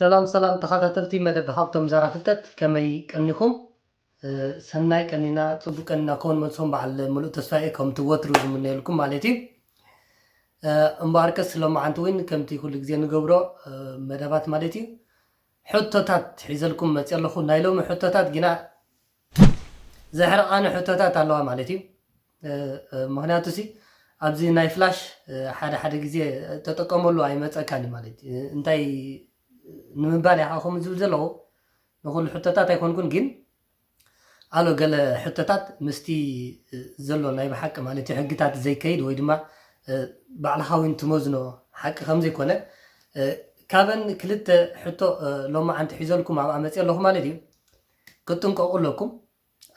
ሰላም ሰላም ተኻታተልቲ መደብ ሃብቶም ዛራ ፍልጠት ከመይ ቀኒኹም ሰናይ ቀኒና ጽቡቅ ቀኒና ክኸውን መልሶም በዓል ምሉእ ተስፋ እየ ከምቲ ወትሩ ዝምነየልኩም ማለት እዩ እምበኣርከስ ሎማዓንቲ እውን ከምቲ ኩሉ ግዜ ንገብሮ መደባት ማለት እዩ ሕቶታት ሒዘልኩም መፅኦ ኣለኹ ናይ ሎሚ ሕቶታት ግና ዘሕርቓኒ ሕቶታት ኣለዋ ማለት እዩ ምክንያቱ ሲ ኣብዚ ናይ ፍላሽ ሓደ ሓደ ግዜ ተጠቀመሉ ኣይመፀካን እዩ ማለት እዩ እንታይ ንምባል ኢኻ ከምኡ ዝብል ዘለዎ ንኩሉ ሕቶታት ኣይኮንኩን ግን ኣሎ ገለ ሕቶታት ምስቲ ዘሎ ናይ ብሓቂ ማለት እዩ ሕግታት ዘይከይድ ወይ ድማ ባዕልኻ እውን ትመዝኖ ሓቂ ከምዘይኮነ ካበን ክልተ ሕቶ ሎማዓንቲ ሒዘልኩም ኣብኣ መፅእ ኣለኹ ማለት እዩ ክትጥንቀቁ ኣለኩም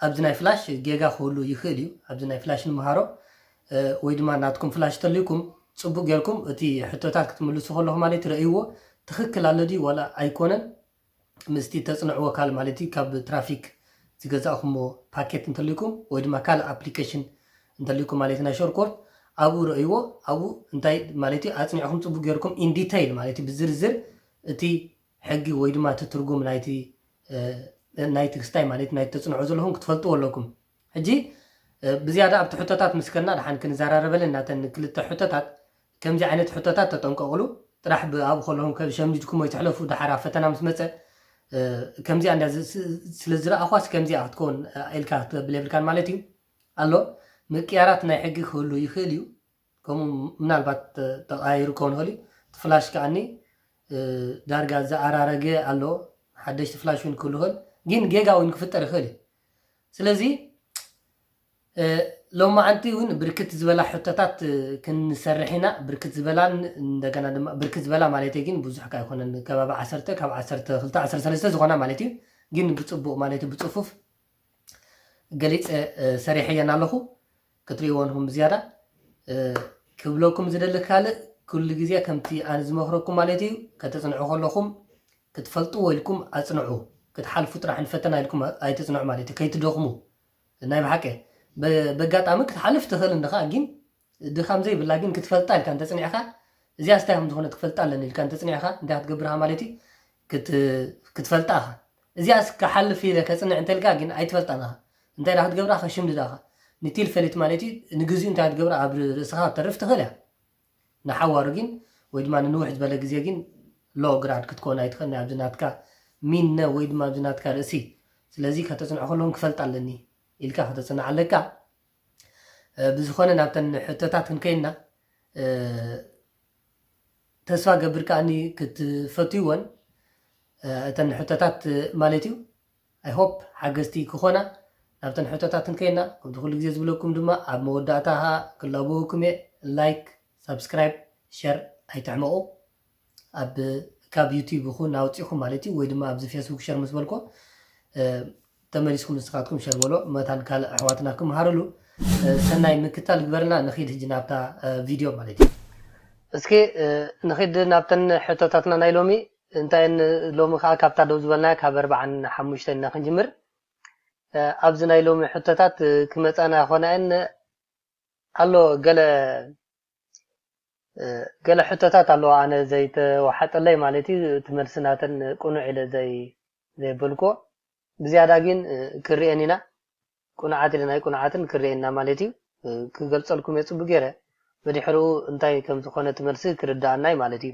ኣብዚ ናይ ፍላሽ ጌጋ ክህሉ ይክእል እዩ ኣብዚ ናይ ፍላሽ ንመሃሮ ወይ ድማ ናትኩም ፍላሽ ተልይኩም ጽቡቅ ጌርኩም እቲ ሕቶታት ክትምልሱ ከለኩም ማለት ረእይዎ ትክክል ኣሎ ድዩ ዋላ ኣይኮነን ምስቲ ተጽንዕዎ ካል ማለት እዩ ካብ ትራፊክ ዝገዛእኩምዎ ፓኬት እንተልይኩም ወይ ድማ ካልእ ኣፕሊኬሽን እንተልይኩም ማለት ናይ ሾርኮርት ኣብኡ ረእይዎ ኣብኡ እንታይ ማለት እዩ ኣጽኒዕኩም ጽቡቅ ጌርኩም ኢን ዲተይል ማለት እዩ ብዝርዝር እቲ ሕጊ ወይ ድማ እቲ ትርጉም ናይቲ ናይቲ ክስታይ ማለት ናይቲ ተጽንዖ ዘለኹም ክትፈልጥዎ ኣለኩም። ሕጂ ብዝያዳ ኣብቲ ሕቶታት ምስ ከድና ደሓን ክንዘራረበለን ናተን ክልተ ሕቶታት ከምዚ ዓይነት ሕቶታት ተጠንቀቕሉ ጥራሕ ብኣብኡ ከለኹም ከሸምጅድኩሞ ይትሕለፉ ደሓር ኣብ ፈተና ምስ መጸ ከምዚኣ እንዳ ስለ ዝረኣኳስ ከምዚኣ ክትከውን ኢልካ ክትብል የብልካን ማለት እዩ ኣሎ ምቅያራት ናይ ሕጊ ክህሉ ይኽእል እዩ ከምኡ ምናልባት ተቀያይሩ ክኸውን ይኽእል እዩ። እቲ ፍላሽ ከኣኒ ዳርጋ ዝኣራረገ ኣሎ፣ ሓደሽቲ ፍላሽ እውን ክህሉ ይኽእል፣ ግን ጌጋ እውን ክፍጠር ይኽእል እዩ። ስለዚ ሎማዓንቲ እውን ብርክት ዝበላ ሕቶታት ክንሰርሕ ኢና፣ ብርክት ዝበላን እንደገና ድማ ብርክት ዝበላ ማለት ግን ብዙሕ ከ ኣይኮነን ከባቢ ዓሰርተ ካብ ዓሰርተ ክልተ ዓሰርተ ሰለስተ ዝኾና ማለት እዩ፣ ግን ብፅቡቕ ማለት ብፅፉፍ ገሊፀ ሰሪሐየን ኣለኹ ክትሪእዎ ንኹም ብዝያዳ ክብለኩም ዝደሊ ካልእ ኩሉ ግዜ ከምቲ ኣነ ዝመኽረኩም ማለት እዩ ከተፅንዑ ከለኹም ክትፈልጥዎ ኢልኩም ኣፅንዑ ክትሓልፉ ጥራሕ ንፈተና ኢልኩም ኣይትፅንዑ ማለት እዩ ከይትደኽሙ ናይ ብሓቂ በጋጣሚ ክትሓልፍ ትኽእል እንድኻ ግን ድኻም ዘይብላ ግን ክትፈልጣ ኢልካ እንተጽኒዕካ እዚኣስ እንታይ ከምዝኾነት ክፈልጣ ኣለኒ ኢልካ እንተጽኒዕካ እንታይ ክትገብር ኢኻ ማለት እዩ ክትፈልጣ ኢኻ እዚኣስ ክሓልፍ ኢለ ከጽንዕ እንተልካ ግን ኣይትፈልጣን ኢኻ እንታይ ዳ ክትገብራ ከሽምድዳ ኢኻ ንቲል ፈሊት ማለት እዩ ንግዚኡ እንታይ ክትገብራ ኣብ ርእስኻ ክተርፍ ትኽእል እያ ንሓዋሩ ግን ወይ ድማ ንንውሕ ዝበለ ግዜ ግን ሎ ግራድ ክትኮን ኣይትኽእልን ኣብዚ ናትካ ሚነ ወይ ድማ ኣብዚ ናትካ ርእሲ ስለዚ ከተጽንዖ ከለውን ክፈልጣ ኣለኒ ኢልካ ከተጽንዕ ኣለካ ብዝኾነ ናብተን ሕቶታት ክንከይንና ተስፋ ገብር ከኣኒ ክትፈትይወን እተን ሕቶታት ማለት እዩ ኣይሆፕ ሓገዝቲ ክኾና ናብተን ሕቶታት እንከይና ከምቲ ኩሉ ግዜ ዝብለኩም ድማ ኣብ መወዳእታ ክላበወኩም እየ ላይክ ሳብስክራይብ ሸር ኣይትሕመቑ ኣብ ካብ ዩቱብ ይኹን ኣውጺኹም ማለት እዩ ወይ ድማ ኣብዚ ፌስቡክ ሸር ምስ በልኮ ተመሊስኩም ንስኻትኩም ሸር በሎ መታን ካልእ ኣሕዋትና ክምሃርሉ ሰናይ ምክታል ግበርልና ንኺድ ህጂ ናብታ ቪድዮ ማለት እዩ እስኪ ንኺድ ናብተን ሕቶታትና ናይ ሎሚ እንታይን ሎሚ ከዓ ካብታ ደው ዝበልናያ ካብ ኣርባዓን ሓሙሽተን ኢና ክንጅምር ኣብዚ ናይ ሎሚ ሕቶታት ክመፃና ኮናየን ኣሎ ገለ ገለ ሕቶታት ኣለዋ ኣነ ዘይተዋሓጠለይ ማለት እዩ እቲ መልሲ ናተን ቅኑዕ ኢለ ዘይበልክዎ ብዝያዳ ግን ክርኤን ኢና ቅኑዓት ኢለን ኣይቅኑዓትን ክርኤን ኢና ማለት እዩ ክገልጸልኩም እየ ጽቡቅ ገይረ ብድሕርኡ እንታይ ከም ዝኾነ እቲ መልሲ ክርድኣና እዩ ማለት እዩ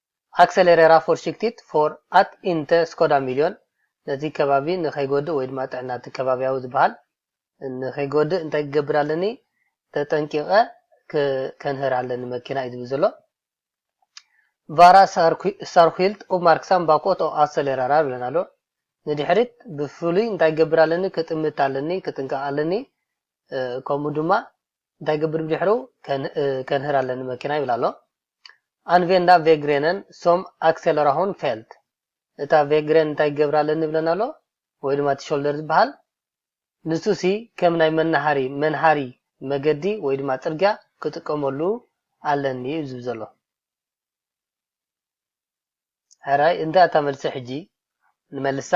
ኣክሰሌሬራ ፎርሽክቲት ፎር ኣት ኢንተ ስኮዳ ሚልዮን፣ ነቲ ከባቢ ንኸይጎድእ ወይ ድማ ጥዕና እቲ ከባብያዊ ዝበሃል ንኸይጎድእ እንታይ ክገብር ኣለኒ ተጠንቂቐ ከንህር ኣለኒ መኪና እዩ ዝብል ዘሎ። ቫራ ሳርኩይልት ኡፕማርክሳም ባኮት ኦፍ ኣሰሌራራር ይብለና ኣሎ። ንድሕሪት ብፍሉይ እንታይ ክገብር ኣለኒ ክጥምት ኣለኒ ክጥንቀቕ ኣለኒ ከምኡ ድማ እንታይ ይገብር ብድሕሩ ከንህር ኣለ ንመኪና ይብል ኣሎ ኣንቬንዳ ቬግሬነን ሶም ኣክሰለራሆን ፌልት እታ ቬግሬን እንታይ ይገብር ኣለኒ ይብለና ኣሎ ወይ ድማ እቲ ሾልደር ዝበሃል ንሱ ሲ ከም ናይ መናሃሪ መንሃሪ መገዲ ወይ ድማ ፅርግያ ክጥቀመሉ ኣለኒ እዩ ዝብ ዘሎ ሕራይ እንታይ እታ መልሲ ሕጂ ንመልሳ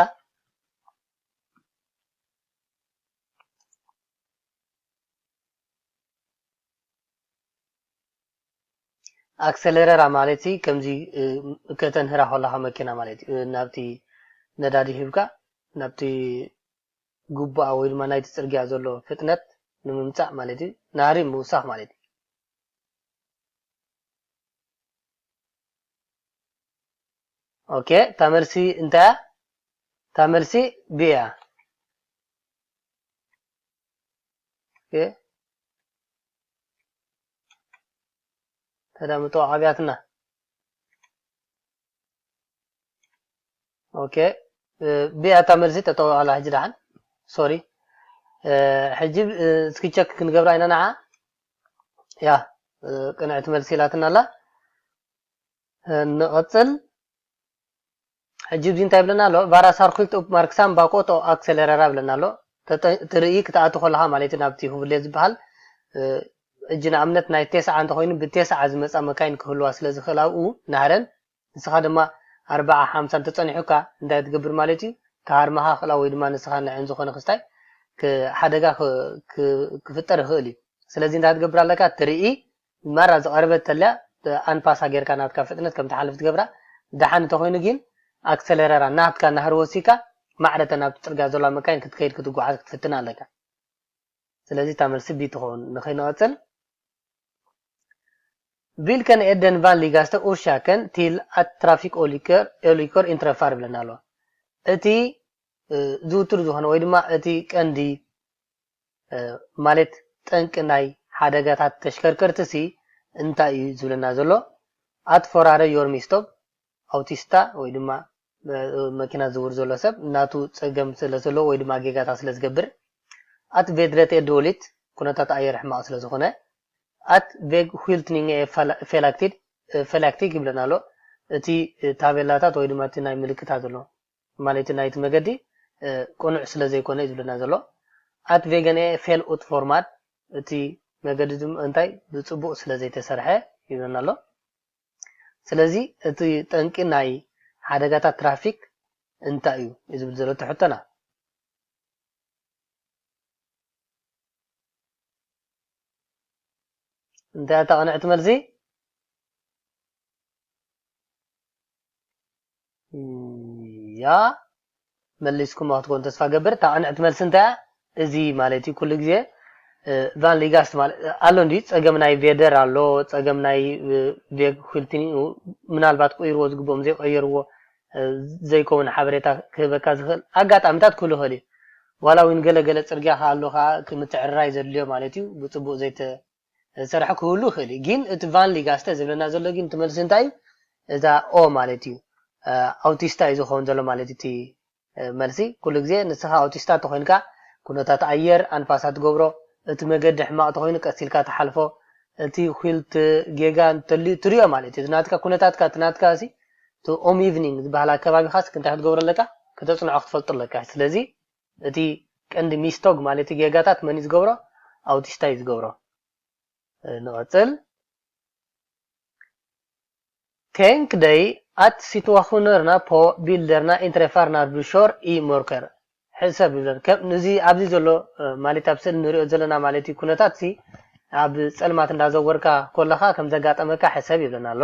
ኣክሰለረራ ማለት ከምዚ ከተንህራ ከለካ መኪና ማለት እዩ ናብቲ ነዳዲ ሂብካ ናብቲ ግቡኣ ወይ ድማ ናይቲ ፅርግያ ዘሎ ፍጥነት ንምምፃእ ማለት እዩ ናህሪ ምውሳኽ ማለት እዩ ኦኬ እታ መልሲ እንታይ እያ? እታ መልሲ ቢ እያ። ተዳምጦ ዓብያትና ኦኬ ቢ እያ እታ መልሲ ጠጠው ኣላ ሕጂ ደሓን ሶሪ ሕጂ እስኪ ቸክ ክንገብራ ኢና ንዓ ያ ቅንዕቲ መልሲ ኢላትና ኣላ ንቕጽል ሕጂ እዚ እንታይ ይብለና ኣሎ ቫራ ሳርኩልት ኡፕ ማርክሳም ባቆት ኦ ኣክሰለረራ ይብለና ኣሎ እቲ ርእይ ክትኣቱ ከለኻ ማለት እዩ ናብቲ ሁብሌ ዝበሃል ሕጂ ንኣብነት ናይ ቴስዓ እንተኮይኑ ብቴስዓ ዝመጻ መካይን ክህልዋ ስለ ዝኽእል ኣብኡ ናህረን ንስኻ ድማ ኣርባዓ ሓምሳ እንተጸኒሑካ እንታይ ትገብር ማለት እዩ ተሃርመኻ ክላ ወይ ድማ ንስኻ ንዕን ዝኾነ ክስታይ ሓደጋ ክፍጠር ይኽእል እዩ ስለዚ እንታይ ትገብር ኣለካ ትርኢ ማራ ዝቀረበት ተላ ብኣንፋስ ኣገርካ ናትካ ፍጥነት ከም ትሓልፍ ትገብራ ዳሓን እንተኮይኑ ጊን ኣክሰለረራ ናትካ ናህሪ ወሲካ ማዕረ እተን ኣብቲ ጽርግያ ዘሎዋ መካይን ክትከይድ ክትጉዓዝ ክትፍትን ኣለካ ስለዚ እታ መልሲ ቢ ትከውን ንክይንቀጽል Vilken är den vanligaste orsaken till att trafikolyckor inträffar ብለና ኣለዋ እቲ ዝውቱር ዝኾነ ወይ ድማ እቲ ቀንዲ ማለት ጠንቂ ናይ ሓደጋታት ተሽከርከርቲሲ እንታይ እዩ ዝብለና ዘሎ? Att förare gör misstag፣ ኣውቲስታ ወይ ድማ መኪና ዝዝውር ዘሎ ሰብ ናቱ ጸገም ስለ ዘለዎ ወይ ድማ ጌጋታት ስለ ዝገብር፣ Att vädret är dåligt፣ ኩነታት ኣየር ሕማቕ ስለ ዝኾነ፣ Att vägskyltningen är felaktig፣ felaktig ይብለና ኣሎ እቲ ታቤላታት ወይ ድማ እቲ ናይ ምልክታ ዘሎ። ትማሊ እቲ ናይቲ መገዲ ቅኑዕ ስለ ዘይኮነ እዩ ዝብለና ዘሎ። Att vägen är fel utformad እቲ መገዲ ድማ እንታይ ብጽቡቕ ስለ ዘይተሰርሐ ይብለና ኣሎ። ስለዚ እቲ ጠንቂ ናይ ሓደጋታት ትራፊክ እንታይ እዩ እዩ ዝብል ዘሎ እቲ ሕቶና። እንታይ እያ እታ ቅንዕቲ መልሲ? እያ መሊስኩማ ክትኮኑ ተስፋ እገብር እታ ቅንዕቲ መልሲ እንታይ እያ እዚ ማለት እዩ ኩሉ ግዜ ቫን ሊጋስት ማለት ኣሎ እንዲ ጸገም ናይ ቬደር ኣሎ ጸገም ናይ ቬግ ኩልቲኒ ምናልባት ቆይርዎ ዝግብኦም ዘይቀየርዎ ዘይከውን ሓበሬታ ክህበካ ዝኽእል ኣጋጣሚታት ክህሉ ይኽእል እዩ ዋላ እውን ገለ ገለ ጽርግያ ከኣ ኣሎ ከኣ ምትዕርራይ ዘድልዮ ማለት እዩ ብጽቡቅ ዘይተ ዝሰርሖ ክህሉ ይኽእል እዩ ጊን እቲ ቫንሊጋስተ ዝብለና ዘሎ ጊን እቲ መልሲ እንታይ እዩ እዛ ኦ ማለት እዩ ኣውቲስታ እዩ ዝኸውን ዘሎ ማለት እዩ እቲ መልሲ ኩሉ ግዜ ንስኻ ኣውቲስታ ተኾይንካ ኩነታት ኣየር ኣንፋሳ ትገብሮ እቲ መገዲ ሕማቕ ተኾይኑ ቀስ ኢልካ ትሓልፎ እቲ ኺልት ጌጋ እንተልዩ ትሪኦ ማለት እዩ እቲ ናትካ ኩነታትካ እቲ ናትካ እቲ ኦም ኢቭኒንግ ዝበሃል ኣከባቢኻስ እንታይ ክትገብሮ ኣለካ ከተጽንዖ ክትፈልጡ ኣለካ ስለዚ እቲ ቀንዲ ሚስቶግ ማለቲ ጌጋታት መን እዩ ዝገብሮ ኣውቲስታ እዩ ዝገብሮ ንቐጽል Tänk dig att situationerna på bilderna inträffar när du kör i mörker. ሕሰብ ይብለን ከም እዚ ኣብዚ ዘሎ ማለት ኣብ ስእሊ ንሪኦ ዘለና ማለት እዩ ኩነታት ሲ ኣብ ጸልማት እንዳዘወርካ ኮለኻ ከም ዘጋጠመካ ሕሰብ ይብለና ኣሎ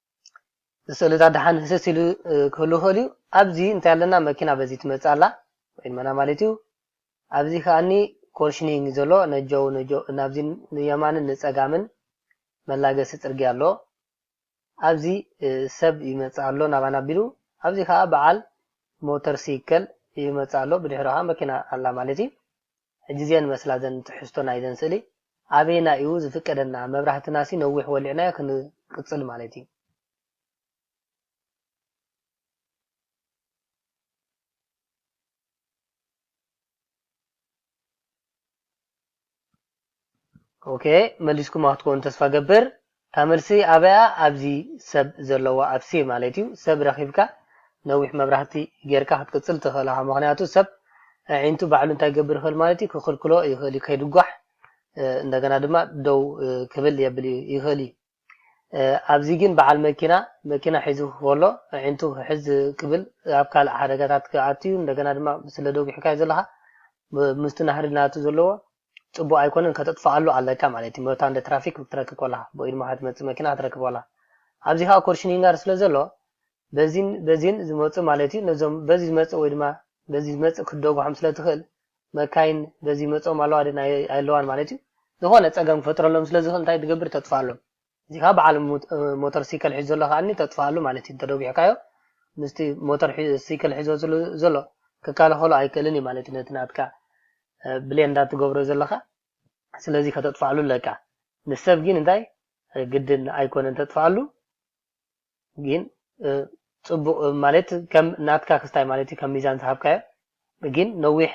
ስእልታት ደሓን ህስስ ኢሉ ክህሉ ይኽእል እዩ ኣብዚ እንታይ ኣለና መኪና በዚ ትመጽእ ኣላ ወይድመና ማለት እዩ ኣብዚ ከኣኒ ኮርሽኒንግ ዘሎ ነጆ ነጆ ናብዚ ንየማንን ንጸጋምን መላገሲ ጽርግያ ኣሎ ኣብዚ ሰብ ይመጽእ ኣሎ ናባና ኣቢሉ ኣብዚ ከዓ በዓል ሞተር ሲከል ይመጽእ ኣሎ ብድሕሪ ከዓ መኪና ኣላ ማለት እዩ ሕጂ'ዝየን መስላ ዘን ትሕዝቶ ናይዘን ስእሊ ኣበየናይ እዩ ዝፍቀደና መብራህትናሲ ነዊሕ ወሊዕናዮ ክንቅጽል ማለት እዩ። ኦኬ መሊስኩማ ክትኮኑ ተስፋ ገብር እታ መልሲ ኣበያ ኣብዚ ሰብ ዘለዋ ኣብ ሴ ማለት እዩ ሰብ ረኺብካ ነዊሕ መብራህቲ ጌርካ ክትቅጽል ትኽእል ኢኻ ምኽንያቱ ሰብ ኣዒንቱ ባዕሉ እንታይ ክገብር ይኽእል ማለት እዩ ክኽልክሎ ይኽእል እዩ ከይድጓሕ እንደገና ድማ ደው ክብል የብል ይኽእል እዩ ኣብዚ ግን በዓል መኪና መኪና ሒዙ ከሎ ኣዒንቱ ሕዝ ክብል ኣብ ካልእ ሓደጋታት ክኣቱዩ እንደገና ድማ ስለ ደጒሕካዮ ዘለኻ ምስቲ ናህሪ ናቱ ዘለዎ ጽቡቅ ኣይኮነን ከተጥፍኣሉ ኣለካ ማለት እዩ መታ እንደ ትራፊክ ክትረክብ ኮላኻ ብኡ ድማ ክትመጽእ መኪና ክትረክብ ኮላኻ ኣብዚ ከዓ ኮርሽኒንጋር ስለ ዘሎ በዚን በዚን ዝመጹ ማለት እዩ ነዞም በዚ ዝመጽእ ወይ ድማ በዚ ዝመጽእ ክትደጉሖም ስለ ትኽእል መካይን በዚ ይመጽኦም ኣለዋ ድየን ኣየለዋን ማለት እዩ ዝኾነ ጸገም ክፈጥረሎም ስለ ዝኽእል እንታይ ትገብር ተጥፍኣሎም እዚ ከኣ በዓል ሞተር ሲከል ሒዙ ዘሎ ከኣ ተጥፍኣሉ ማለት እዩ እንተደጒሕካዮ ምስቲ ሞተር ሲከል ሒዞ ዘሎ ክከላኸሎ ኣይክእልን እዩ ማለት እዩ ነቲ ናትካ ብሌን እንዳ ትገብሮ ዘለኻ ስለዚ ከተጥፍኣሉ ኣለካ ንሰብ ግን እንታይ ግድን ኣይኮነን ተጥፍኣሉ ግን ጽቡቅ ማለት ከም ናትካ ክስታይ ማለት እዩ ከም ሚዛን ዝሃብካዮ ግን ነዊሕ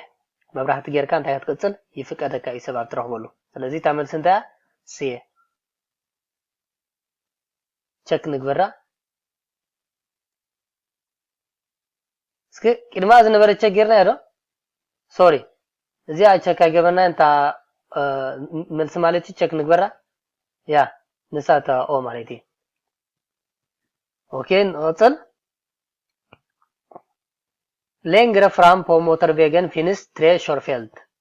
መብራህቲ ጌርካ እንታይ ክትቅጽል ይፍቀደካ እዩ ሰብ ኣብ ትረኽበሉ ስለዚ እታ መልሲ እንታይ እያ ስየ ቸክ ንግበራ እስኪ ቅድማ ዝነበረ ቸክ ጌርናዮ ዶ ሶሪ እዚኣ ቸክ ኣይገበርናያን እታ መልሲ ማለት እዩ ቸክ ንግበራ ያ ንሳ እታ ኦ ማለት እዩ ኦኬ ንቕፅል ሌንግረ ፍራም ፖ ሞተር ቬገን ፊንስ ትሬ ሾርፌልት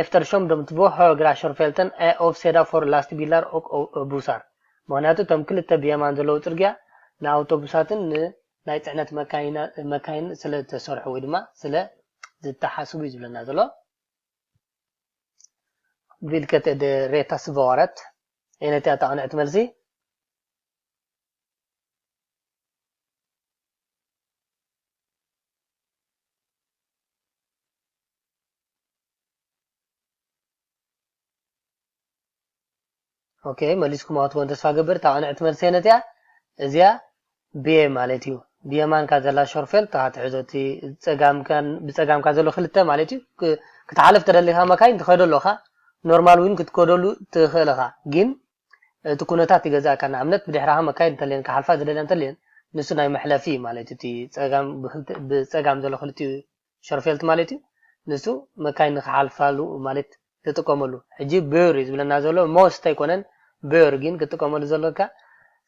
ኤፍተርሾም ዶም ትቮ ሀግራ ሾርፌልተን እ ኦፍሴዳ ፎር ላስትቢላር ኦክ ኦቶቡሳር፣ ምኽንያቱ እቶም ክልተ ብየማን ዘለዉ ጽርግያ ንኣውቶቡሳትን ን ናይ ጽዕነት መካይንን ስለ ዝተሰርሑ ወይ ድማ ስለ ዝተሓስቡ እዩ ዝብለና ዘሎ። ቪልከት እ ደ ሬታ ስቫዋረት፣ ኣየነይቲ እያ እታ ቅንዕቲ መልሲ? ኦኬ መሊስኩማ ትኮን ተስፋ ገብር እታ ቅንዕቲ መልሰ ነዚኣ እዚኣ ብየ ማለት እዩ ብየማንካ ዘላ ሾርፌል እታ ትሕዞ እቲ ብፀጋምካ ዘሎ ክልተ ማለት እዩ ክትሓለፍ ተደሊካ መካይን ትኸዶ ኣለኻ ኖርማል እውን ክትከደሉ ትኽእል ኢኻ ግን እቲ ኩነታት ይገዛእካ ንኣብነት ብድሕራኻ መካይን እንተልየን ክሓልፋ ዝደልያ እንተልየን ንሱ ናይ መሕለፊ ማለት እቲ ፀጋም ብፀጋም ዘሎ ክልቲኡ ሸርፌልት ማለት እዩ ንሱ መካይን ንክሓልፋሉ ማለት ትጥቀመሉ ሕጂ ብር እዩ ዝብለና ዘሎ ሞስት ኣይኮነን ብር ግን ክትጥቀመሉ ዘለካ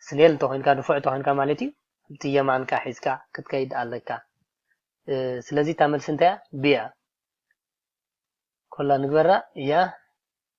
ስኔል እንተኮይንካ ንፉዕ እንተኮይንካ ማለት እዩ እቲ የማንካ ሒዝካ ክትከይድ ኣለካ ስለዚ እታ መልሲ እንታይ እያ ብ እያ ኮላ ንግበራ እያ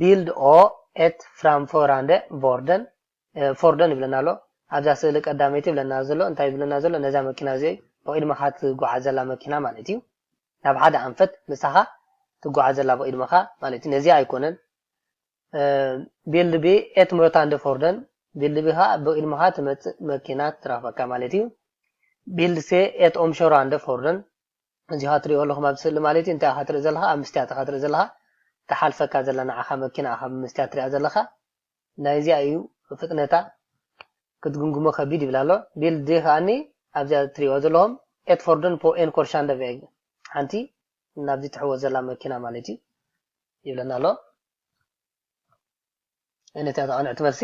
ቢልድ ኦ ኤት ፍራምፎራንደ ቮርደን፣ ፎርደን ይብለና ኣሎ። ኣብዛ ስእሊ ቀዳመይቲ ይብለና ዘሎ እንታይ ይብለና ዘሎ ነዛ መኪና እዚ ብቕድመኻ ትጓዓዘላ መኪና ማለት እዩ። ናብ ሓደ ኣንፈት ምሳኻ ትጓዓዘላ ብቕድመኻ ማለት እዩ። ነዚኣ ኣይኮነን ቢልድ ቢ ኤት ምሮታንደ ፎርደን ቢልድ ቢ ኸኣ ብቕድመኻ ትመጽእ መኪና ትረኽበካ ማለት እዩ። ቢልድ ሴ ኤት ኦምሾራንደ ፎርደን እዚ ኢኻ ትሪኦ ኣለኹም ኣብዚ ስእሊ ማለት'ዩ እንታይ ኢኻ ትርኢ ዘለኻ ኣብ ምስትያት ኢኻ ትርኢ ዘለኻ ትሓልፈካ ዘላ ንዓኻ መኪና ኢኻ ብምስትያት ትሪኣ ዘለኻ ናይ እዚኣ እዩ ፍጥነታ ክትግምግሞ ከቢድ ይብል ኣሎ ቢል ዲ ከኣኒ ኣብዚኣ ትሪእዋ ዘለኹም ኤት ፎርደን ፖ ኤን ኮርሻንደ ቬግ ሓንቲ ናብዚ ትሕወስ ዘላ መኪና ማለት እዩ ይብለና ኣሎ ነቲኣ ተቐንዕቲ መልሲ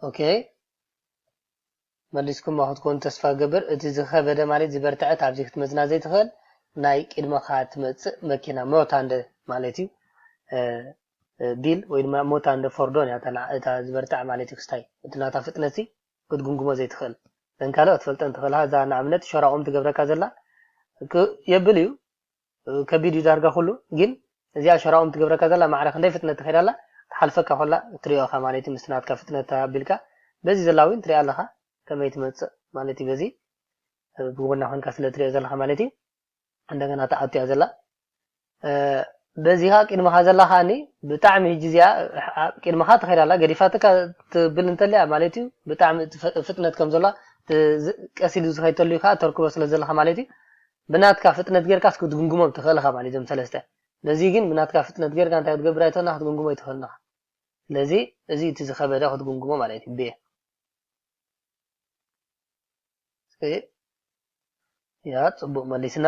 ኦኬ መሊስኩማ ክትኮኑ ተስፋ ገብር እቲ ዝኸበደ ማለት ዝበርትዐት ኣብዚ ክትመዝና ዘይትኽእል ናይ ቅድመኻ ትመፅእ መኪና ሞታ እንደ ማለት እዩ ቢል ወይ ድማ ሞታ እንደ ፎርዶን እታ ዝበርትዐ ማለት እዩ ክስታይ እቲ ናታ ፍጥነት ክትጉምጉሞ ዘይትኽእል ዘን ካልኦት ትፈልጠን ትኽእልካ እዛ ንኣብነት ሸራቑም ትገብረካ ዘላ የብል እዩ ከቢድ እዩ ዳርጋ ኩሉ ግን እዚኣ ሸራኦም ትገብረካ ዘላ ማዕረ ክንደይ ፍጥነት ትከድ ኣላ ትሓልፈካ ኮላ ትሪኦ እካ ማለት እዩ ምስቲ ናትካ ፍጥነት ኣቢልካ በዚ ዘላ ዊን ትሪኣ ኣለካ ከመይ ትመጽእ ማለት እዩ በዚ ብጎና ኮንካ ስለ ትሪኦ ዘለካ ማለት እዩ እንደገና ትኣቱ እያ ዘላ በዚኻ ቅድመኻ ዘላ ከዓኒ ብጣዕሚ ህጂ እዚኣ ቅድመኻ ትኸይድ ኣላ ገዲፋትካ ትብል እንተልያ ማለት እዩ ብጣዕሚ ፍጥነት ከም ዘላ ቀሲሉ ዝኸይተሉ እዩ ከዓ ተርክቦ ስለ ዘለካ ማለት እዩ ብናትካ ፍጥነት ጌርካስ ክትግምግሞም ትኽእል ኢኻ ማለት እዩ እዞም ሰለስተ። ነዚ ግን ብናትካ ፍጥነት ጌርካ እንታይ ክትገብር ኣይትኽእልን ኢኻ ክትግምግሞ ኣይትኽእልን ኢኻ። ስለዚ እዚ እዩ እቲ ዝኸበደ ክትግምግሞ ማለት እዩ ብ። ያ ጽቡቕ መሊስና።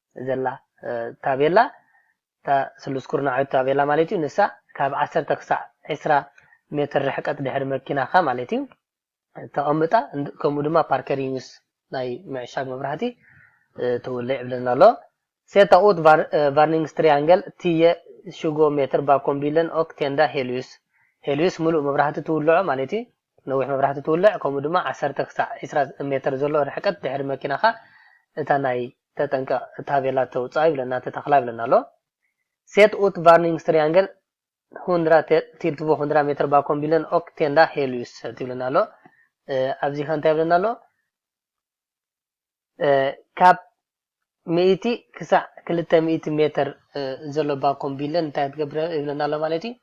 ዘላ ታቤላ፣ እታ ስሉስ ኩርናዓዊት ታቤላ ማለት እዩ፣ ንሳ ካብ ዓሰርተ ክሳዕ ዕስራ ሜትር ርሕቀት ድሕሪ መኪናኻ ማለት እዩ ተቐምጣ፣ ከምኡ ድማ ፓርከሪንግስ ናይ ምዕሻግ መብራህቲ ተውለ ይብለና ኣሎ። ሴታ ኡት ቫርኒንግስትሪያንገል ትየ ሽጎ ሜትር ባኮም ቢለን ኦክ ቴንዳ ሄልዩስ፣ ሄልዩስ ምሉእ መብራህቲ ትውልዖ ማለት እዩ፣ ነዊሕ መብራህቲ ትውልዕ ከምኡ ድማ ዓሰርተ ክሳዕ ዕስራ ሜተር ዘሎ ርሕቀት ድሕሪ መኪናኻ እታ ናይ ተጠንቀቕ ታቤላ ተውጽኣ ይብለና ተተኽላ ይብለና ኣሎ። Sätt ut varningstriangeln hundra till två hundra meter bakom bilen och tända hellyset ይብለና ኣሎ። ኣብዚኸ እንታይ ይብለና ኣሎ? ካብ ሚእቲ ክሳዕ ክልተ ሚእቲ ሜትር ዘሎ ባኮም ቢለን እንታይ ትገብር ይብለና ኣሎ ማለት እዩ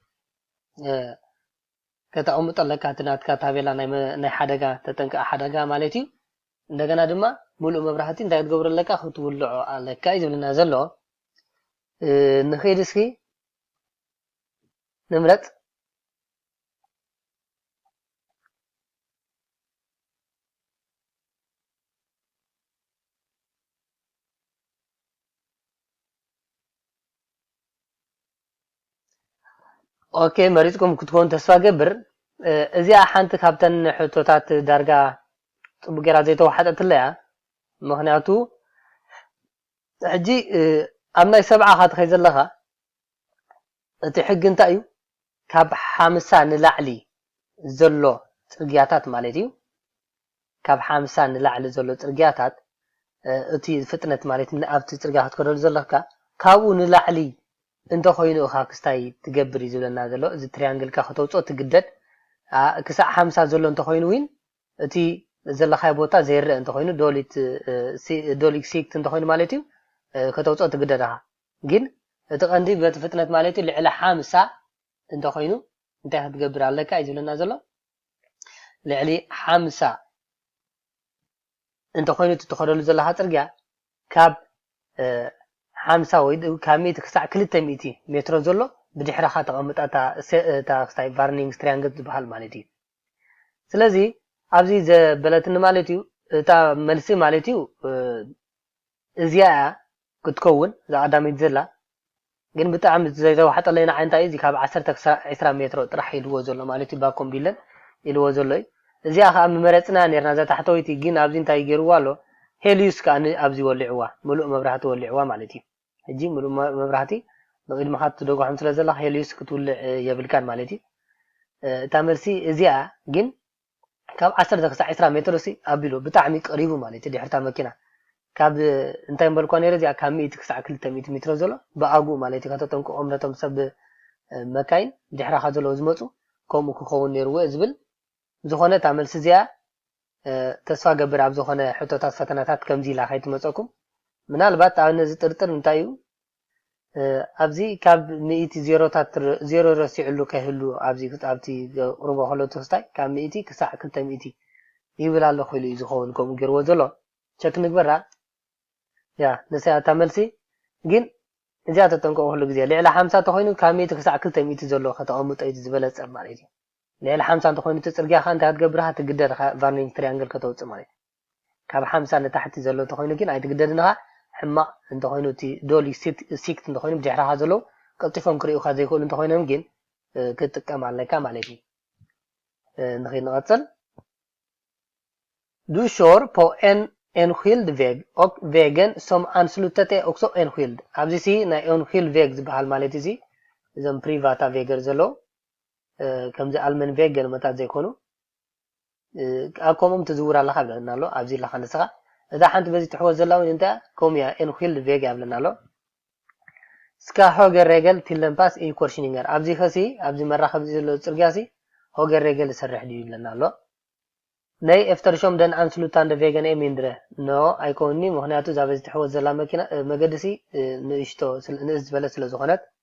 ከተቀምጦ ኣለካ እቲ ናትካ ታቤላ ናይ ሓደጋ ተጠንቀቂ ሓደጋ ማለት እዩ እንደገና ድማ ሙሉእ መብራህቲ እንታይ ክትገብሮ ኣለካ ክትውልዖ ኣለካ እዩ ዝብለና ዘሎ ንኺድ እስኪ ንምረጽ ኦኬ መሪጽኩም ክትኮን ተስፋ ገብር እዚኣ ሓንቲ ካብተን ሕቶታት ዳርጋ ጽቡቅ ጌራ ዘይተዋሓጠትለያ ምክንያቱ ሕጂ ኣብ ናይ ሰብዓ ካትኸይ ዘለኻ እቲ ሕጊ እንታይ እዩ ካብ ሓምሳ ንላዕሊ ዘሎ ጽርግያታት ማለት እዩ ካብ ሓምሳ ንላዕሊ ዘሎ ጽርግያታት እቲ ፍጥነት ማለት ኣብቲ ጽርግያ ክትከደሉ ዘለካ ካብኡ ንላዕሊ እንተኾይኑ እኻ ክስታይ ትገብር እዩ ዝብለና ዘሎ እዚ ትሪያንግልካ ከተውጽኦ ትግደድ ክሳዕ ሓምሳ ዘሎ እንተኾይኑ ዊን እቲ ዘለኻዮ ቦታ ዘይረእ እንተኾይኑ ዶሊት ዶሊክ ሲክት እንተኾይኑ ማለት እዩ ከተውጽኦ ትግደድ እኻ ግን እቲ ቀንዲ በቲ ፍጥነት ማለት እዩ ልዕሊ ሓምሳ እንተኾይኑ እንታይ ክትገብር ኣለካ እዩ ዝብለና ዘሎ ልዕሊ ሓምሳ እንተኾይኑ እቲ ትኸደሉ ዘለኻ ፅርግያ ካብ ሓምሳ ወይ ካብ ሚእቲ ክሳዕ ክልተ ሚእቲ ሜትሮ ዘሎ ብድሕረኻ ተቐምጣ እታ ክስታይ ቫርኒንግ ስትሪያንግት ዝበሃል ማለት እዩ ስለዚ ኣብዚ ዘበለትኒ ማለት እዩ እታ መልሲ ማለት እዩ እዚኣ እያ ክትከውን እዛ ቀዳመይቲ ዘላ ግን ብጣዕሚ ዘይተዋሕጠለይ ንዓይ እንታይ እዩ እዚ ካብ ዓሰርተ ክሳዕ ዕስራ ሜትሮ ጥራሕ ኢልዎ ዘሎ ማለት እዩ ባኮም ቢለን ኢልዎ ዘሎ እዩ እዚኣ ከኣ ምመረጽናያ ኔርና እዛ ታሕተወይቲ ግን ኣብዚ እንታይ ጌርዋ ኣሎ ሄልዩስ ከኣ ን ኣብዚ ወሊዕዋ ምሉእ መብራህቲ ወሊዕዋ ማለት እዩ ሕጂ ምሉእ መብራህቲ ንቅድምካ ትደጓሖም ስለ ዘለካ ሄልዩስ ክትውልዕ የብልካን ማለት እዩ እታ መልሲ እዚኣ ግን ካብ ዓሰርተ ክሳዕ ዕስራ ሜትሮ ሲ ኣቢሉ ብጣዕሚ ቀሪቡ ማለት እዩ ድሕሪታ መኪና ካብ እንታይ ምበልኳ ነይረ እዚኣ ካብ ሚእቲ ክሳዕ ክልተ ሚእቲ ሚትሮ ዘሎ ብኣግኡ ማለት እዩ ከተጠንቅቆም ነቶም ሰብ መካይን ድሕራኻ ዘለዉ ዝመጹ ከምኡ ክኸውን ነይርዎ እዩ ዝብል ብዝኾነ እታ መልሲ እዚኣ ተስፋ ገብር ኣብ ዝኾነ ሕቶታት ፈተናታት ከምዚ ኢላ ከይትመጸኩም ምናልባት ኣነ ዝጥርጥር እንታይ እዩ ኣብዚ ካብ ሚእቲ ዜሮታት ዜሮ ረሲዕሉ ከይህሉ ኣብዚ ኣብቲ ዘቕርቦ ከሎ ትሕዝታይ ካብ ሚእቲ ክሳዕ ክልተ ሚእቲ ይብል ኣለኹ ኢሉ እዩ ዝኸውን ከምኡ ገይርዎ ዘሎ ቸክ ንግበራ ያ ንሳ እታ መልሲ ግን እዚኣ ተጠንቀቕሉ ግዜ ልዕሊ ሓምሳ ተኾይኑ ካብ ሚእቲ ክሳዕ ክልተ ሚእቲ ዘሎ ከተቐምጦ እዩ ዝበለጸ ማለት እዩ ልዕሊ ሓምሳ እንተኾይኑ እቲ ጽርግያ ከ እንታይ ክትገብር ኢኻ ትግደድ ኢኻ ቫርኒንግ ትሪያንግል ከተውጽእ ማለት እዩ ካብ ሓምሳ ንታሕቲ ዘሎ እንተኾይኑ ግን ኣይትግደድን ኢኻ፣ ሕማቕ እንተኾይኑ እቲ ዶሊ ሲክት እንተኾይኑ ብድሕረኻ ዘለዉ ቀልጢፎም ክርእዩኻ ዘይክእሉ እንተኾይኖም ግን ክትጥቀም ኣለካ ማለት እዩ። ንኺድ ንቐጽል። ዱ ሾር ፖ ኤን ኤንኪልድ ቬግ ኦክ ቬገን ሶም ኣንስሉተት ኤ ኦክሶ ኤንኪልድ ኣብዚ ሲ ናይ ኤንኪልድ ቬግ ዝበሃል ማለት እዩ እዚ እዞም ፕሪቫታ ቬገር ዘለዉ ከምዚ ኣልመን ቬግ ገለመታት ዘይኮኑ ኣብ ከምኦም ትዝውር ኣለኻ ይብለና ኣሎ ኣብዚ ኣለኻ ንስኻ እዛ ሓንቲ በዚ ትሕወስ ዘላ እውን እንታይ እያ ከምኡ እያ ኤንኪልድ ቬጋ ይብለና ኣሎ ስካ ሆገር ሬገል ቲለምፓስ ኢን ኮርሽኒንገር ኣብዚ ከሲ ኣብዚ መራኸቢ እዚ ዘሎ ፅርግያ ሲ ሆገር ሬገል ዝሰርሕ ድዩ ይብለና ኣሎ ናይ ኤፍተርሾም ደን ኣንስሉታንደ ቬገን ኤ ሚንድረ ኖ ኣይኮንኒ ምክንያቱ እዛ በዚ ትሕወት ዘላ መኪና መገዲ ሲ ንእሽቶ ንእስ ዝበለት ስለ ዝኾነት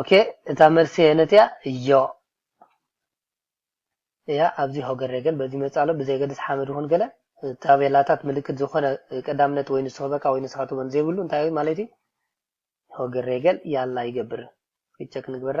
ኦኬ እታ መልሲ የነት እያ እዮ እያ ኣብዚ ሆገር ግን በዚ መፃሎ ብዘይገድስ ሓመድ ይኹን ገለ ታቤላታት ምልክት ዝኾነ ቀዳምነት ወይ ንሱ ክበካ ወይ ንስኻ ትበን ዘይብሉ እንታይ ማለት እዩ ሆገር ገል ያላ ይገብር ይቸክ ንግበራ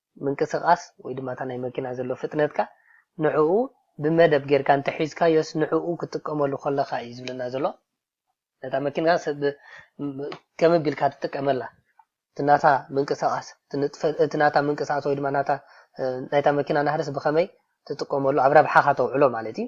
ምንቅስቃስ ወይ ድማ እታ ናይ መኪና ዘሎ ፍጥነትካ ንዕኡ ብመደብ ጌርካ እንተሒዝካዮስ ንዕኡ ክትጥቀመሉ ከለኻ እዩ ዝብለና ዘሎ ነታ መኪና ከመይ ኣቢልካ ትጥቀመላ እቲ ናታ ምንቅስቃስ እቲ ናታ ምንቅስቃስ ወይ ድማ ናታ ናይታ መኪና ናህርስ ብኸመይ ትጥቀመሉ ኣብ ረብሓኻ ተውዕሎ ማለት እዩ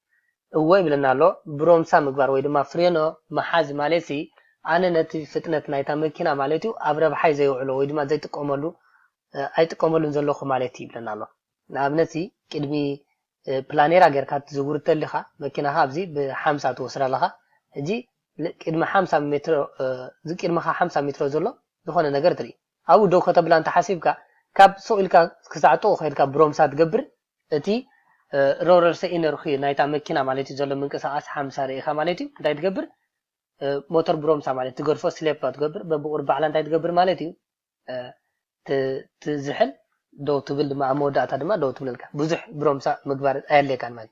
እወ ይብለና ኣሎ። ብሮምሳ ምግባር ወይ ድማ ፍሬኖ ምሓዝ ማሌትሲ ኣነ ነቲ ፍጥነት ናይታ መኪና ማሌትዩ ኣብ ረብሓይ ዘየውዕሎ ወይ ድማ ዘይጥቀመሉ ኣይጥቀመሉን ዘለኹ ማሌትዩ ይብለና ኣሎ። ንኣብነትሲ ቅድሚ ፕላኔራ ጌርካ ክትዝውር እተሊኻ መኪናኻ ኣብዚ ብሓምሳ ትወስዳ ኣለኻ ሕጂ ቅድሚ ሓምሳ ሜትሮ እዚ ቅድመኻ ሓምሳ ሜትሮ ዘሎ ዝኾነ ነገር ትሪኢ። ኣብኡ ደው ከተብላ እንተ ሓሲብካ፣ ካብ ሱቕ ኢልካ ክሳዕ ጥቕኡ ከይድካ ብሮምሳ ትገብር። እቲ ረውረርሰ ኢነርኹ ናይታ መኪና ማለት'ዩ ዘሎ ምንቅስቓስ ሓምሳ ርኢኻ ማለት'ዩ። እንታይ ትገብር? ሞተር ብሮምሳ ማለት ትገድፎ፣ ስሌፓ ትገብር፣ በብቑሩብ ባዕላ እንታይ ትገብር ማለት'ዩ? ትዝሕል፣ ደው ትብል ድማ፣ ኣብ መወዳእታ ድማ ደው ትብለልካ። ብዙሕ ብሮምሳ ምግባር ኣየድልየካን ማለት።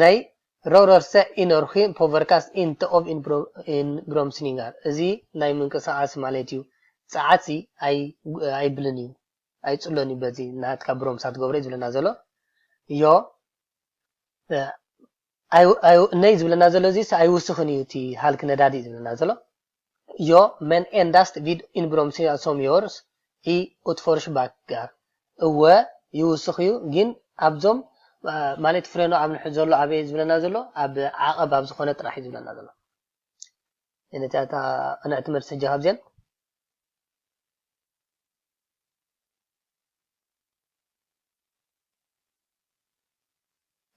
ናይ Rörelse Energi påverkas inte av inbromsningar እዚ ናይ ምንቅስቃስ ማለት እዩ ጸዓትሲ ኣይብልን እዩ ኣይጽሎን እዩ በዚ ናትካ ብሮምሳ ትገብሮ እዩ ዝብለና ዘሎ ዮ ናይ ዝብለና ዘሎ እዚስ ኣይውስኽን እዩ እቲ ሃልኪ ነዳዲ እዩ ዝብለና ዘሎ። ዮ መን ኤንዳስት ቪድ ኢንብሮምሲያ ሶም ዮርስ ኢ ኡትፎርሽባክጋር እወ ይውስኽዩ ጊን ኣብዞም ማለት ፍሬኖ ኣብ ንሕድ ዘሎ ኣበይ እዩ ዝብለና ዘሎ ኣብ ዓቐብ ኣብ ዝኾነ ጥራሕ እዩ ዝብለና ዘሎ ነቲኣታ ቅንዕቲ መልሲ ሕጂ ካብዚን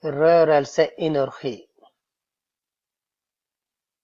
rörelse i Norge.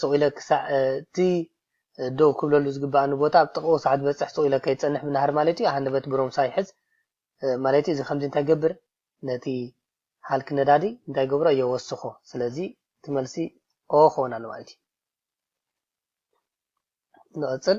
ስቕ ኢለ ክሳዕ እቲ ደው ክብለሉ ዝግበኣኒ ቦታ ኣብ ጥቓኡ ሳዕ ዝበጽሕ ስቕ ኢለ ከይጸንሕ ምናሃር ማለት'ዩ፣ ኣሃ ነበቲ ብሮምሳ ይሕዝ ማለት'ዩ፣ እዚ ከምዚ እንታይ ይገብር ነቲ ሃልኪ ነዳዲ እንታይ ይገብሮ የወስኾ፣ ስለዚ እቲ መልሲ ኦ ክኸውን ኣለዎ ማለት'ዩ። ንቕጽል።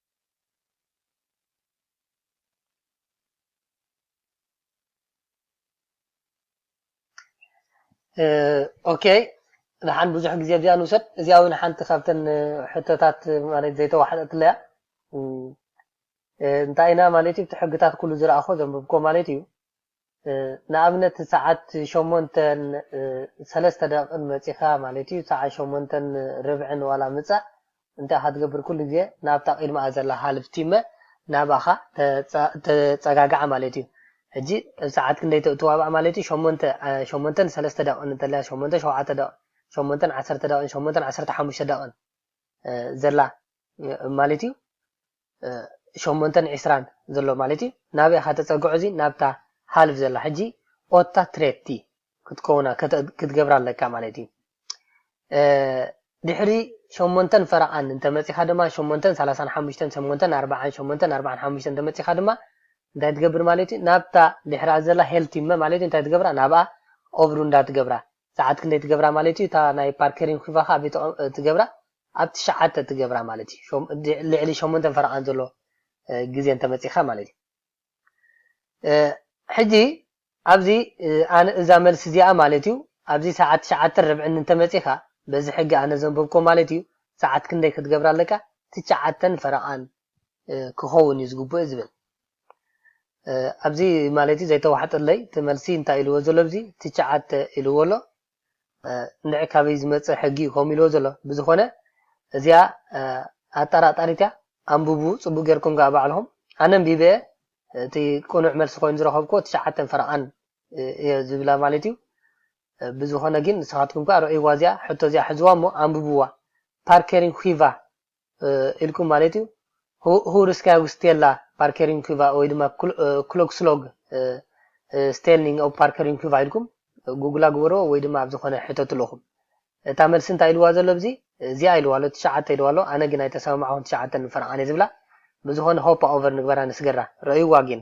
ኦኬ ንሓን ብዙሕ ግዜ ኣብዚኣ ንውሰድ እዚኣ እውን ሓንቲ ካብተን ሕቶታት ማለት ዘይተዋሕጠትለያ እንታይ ኢና ማለት እዩ እቲ ሕግታት ኩሉ ዝረኣኾ ዘንብብኮ ማለት እዩ ንኣብነት ሰዓት ሸሞንተን ሰለስተ ደቕቕን መጺኻ ማለት እዩ ሰዓት ሸሞንተን ርብዕን ዋላ ምጻእ እንታይ ኢኻ ትገብር ኩሉ ግዜ ናብታ ቅድመኣ ዘላ ሃልፍ ቲመ ናባኻ ተጸጋግዓ ማለት እዩ ሕጂ ኣብ ሰዓት ክንደይ ትዋባእ ማለት እዩ ሸሞንተ ሸሞንተን ሰለስተ ደቕቕን እንተልያ ሸሞንተ ሸውዓተ ደቕቕን ሸሞንተን ዓሰርተ ደቕቕን ሸሞንተን ዓሰርተ ሓሙሽተ ደቕቕን ዘላ ማለት እዩ ሸሞንተን ዕስራን ዘሎ ማለት እዩ ናበይ እኻ ተጸግዖ እዚ ናብታ ሃልፍ ዘላ ሕጂ ኦታ ትሬቲ ክትከውና ክትገብራ ኣለካ ማለት እዩ ድሕሪ ሸሞንተን ፈረቓን እንተመጺኻ ድማ ሸሞንተን ሰላሳን ሓሙሽተን ሸሞንተን ኣርባዓን ሸሞንተን ኣርባዓን ሓሙሽተን እንተመጺኻ ድማ እንታይ ትገብር ማለት እዩ ናብታ ድሕራ ዘላ ሄልቲመ ማለት እዩ እንታይ ትገብራ ናብኣ ኦብሩ እንዳትገብራ ሰዓት ክንደይ ትገብራ ማለት እዩ እታ ናይ ፓርከሪን ኪቫ ከኣ ኣበይ ትገብራ ኣብ ትሽዓተ ትገብራ ማለት እዩ ልዕሊ ሸሞንተን ፈረቃን ዘሎ ግዜ እንተመጺካ ማለት እዩ ሕጂ ኣብዚ ኣነ እዛ መልሲ እዚኣ ማለት እዩ ኣብዚ ሰዓት ትሽዓተን ርብዕን እንተመጺካ በዚ ሕጊ ኣነ ዘንበብኮ ማለት እዩ ሰዓት ክንደይ ክትገብራ ኣለካ ትሽዓተን ፈረቃን ክከውን እዩ ዝግብኦ ዝብል ኣብዚ ማለት'ዩ ዘይተዋሕጠለይ እቲ መልሲ እንታይ ኢልዎ ዘሎ ኣብዚ ትቸዓተ ኢልዎ ኣሎ እንድዒ ካበይ ዝመጸ ሕጊ ዩ ከምኡ ኢልዎ ዘሎ ብዝኾነ እዚኣ ኣጣራጣሪት እያ ኣንብቡ ጽቡቅ ጌርኩም ከኣ ባዕልኹም ኣነ ኣንቢበ እቲ ቅኑዕ መልሲ ኮይኑ ዝረኸብክዎ ትሸዓተን ፈረቓን እየ ዝብላ ማለት እዩ ብዝኾነ ግን ንስኻትኩም ከኣ ርዕይዋ እዚኣ ሕቶ እዚኣ ሕዝዋ እሞ ኣንብብዋ ፓርኬሪን ኺቫ ኢልኩም ማለት እዩ፣ ሁውርድስካያ ውስቴላ ፓርከሪንኩቫ ወይ ድማ ክሎግስሎግ ስቴልኒንግ ኦብ ፓርከሪንኩቫ ኢልኩም ጉግላ ግበርዎ ወይ ድማ ኣብ ዝኾነ ሕተትሉ ኢኹም። እታ መልሲ እንታይ ኢልዋ ዘሎ ኣብዚ እዚኣ ኢልዋ ኣሎ ትሽዓተ ኢልዋ ኣሎ ኣነ ግን ኣይተሰማማዕኹን ትሽዓተ ንፈርዓ ኣነ ዝብላ ብዝኾነ ሆፓ ኦቨር ንግበራ ንስገራ ረእይዋ ጊን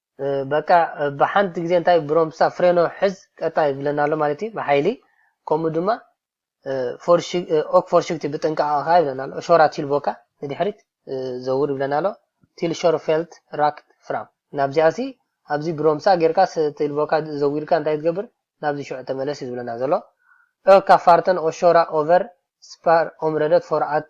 በቃ ብሓንቲ ግዜ እንታይ ብሮምሳ ፍሬኖ ሕዝ ቀጣ ይብለና ኣሎ ማለት እዩ ብሓይሊ ከምኡ ድማ ኦክ ፎርሽግቲ ብጥንቃቐ ከኣ ይብለና ኣሎ ሾራ ቲልቦካ ንድሕሪት ዘውር ይብለና ኣሎ ቲልሾር ፌልት ራክት ፍራም ናብዚኣ ሲ ኣብዚ ብሮምሳ ጌርካ ቲልቦካ ዘዊርካ እንታይ ትገብር ናብዚ ሽዑ ተመለስ እዩ ዝብለና ዘሎ ኦካ ፋርተን ኦሾራ ኦቨር ስፓር ኦምረደት ፎርኣት